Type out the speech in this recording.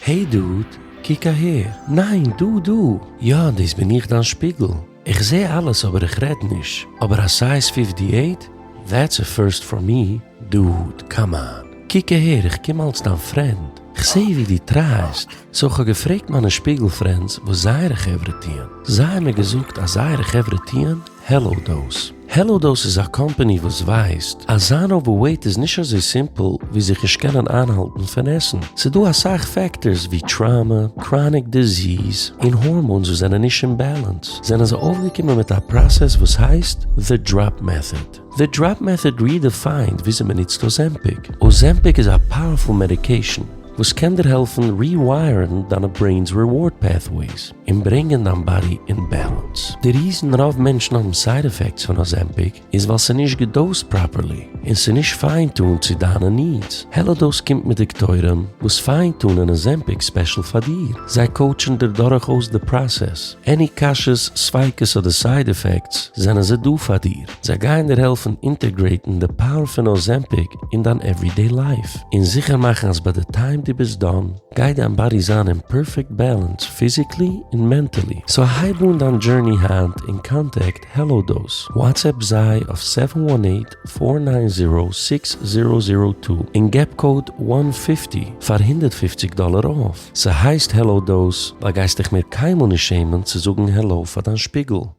העי דוד, קוק אהער. ניין, דא, דא. יא, דאס בין איך דיין שפיגל. איך זע אלעס אבער איך רעד נישט. אבער א סייז פיפטי עיט? דעטס א פירסט פאר מי. דוד, קאם אן. קוק אהער, איך קום אלס דיין פרענד. כ'זע ווי דו טרייסט. סאו כ'האב געפרעגט מיינע שפיגל פרענדס וואס זייערע חברה טוען. זיי האבן מיר געזאגט אז זייערע חברה טוען העלאו דאס. העלא דאס איז א קאמפעני וואס ווייסט אז זיין אווערוועיט איז נישט אזוי סימפל ווי זיך נישט קענען איינהאלטן פון עסן, ס'איז דא אסאך פעקטארס ווי טראמא, קראניק דיזיס, און הארמאונס וואס זענען נישט אין בעלענס, זענען זיי אויפגעקומען מיט א פראסעס וואס הייסט The Drop Method. The Drop Method רידעפיינד וויאזוי מ'נוצט אזעמפיק. אזעמפיק איז א פאוערפול מעדיקעישן וואס קען דיר העלפן ריווייערן דיינע ברעינ'ס ריווארד פעטוועיס. און ברענגען דיין באדי אין בעלענס. די ריזן רוב מענטשן האבן סייד עפעקטס פון אזעמפיק איז ווייל ס'איז נישט געדאוזט פראפערלי און ס'איז נישט פיין טונד צו דיינע נידס. העלאדאוז קומט מיט דאקטוירים וואס פיין טונען אזעמפיק ספעשל פאר דיר. זיי קאוטשן דיר דורך אויס די פראסעס. עני קשיא'ס, ספיקות אדער סייד עפעקטס זענען זיי דא פאר דיר. זיי גייען דיר העלפן אינטערגרעיטן די פאוער פון אזעמפיק אין דיין עוורידעי לייף און זיכער מאכן אז ביי די טיים דו ביסט דאן, גיי דיין באדי זיין אין פערפעקט בעלענס פיזיקלי און מענטעלי, סאו הייב אן דיין דזשורני היינט און קאנטעקט העלא דאוז, וואטסעפפ זיי אויף סעווען וואן עיט פאר ניין זירא סיקס זירא זירא טו און געב קאוד וואן פיפטי פאר הונדערט פופציג דאלער אויף, ס'הייסט העלא דאוז ווייל גייסט דיך מער קיינמאל נישט שעמען צו זאגן העלא פאר דיין שפיגל.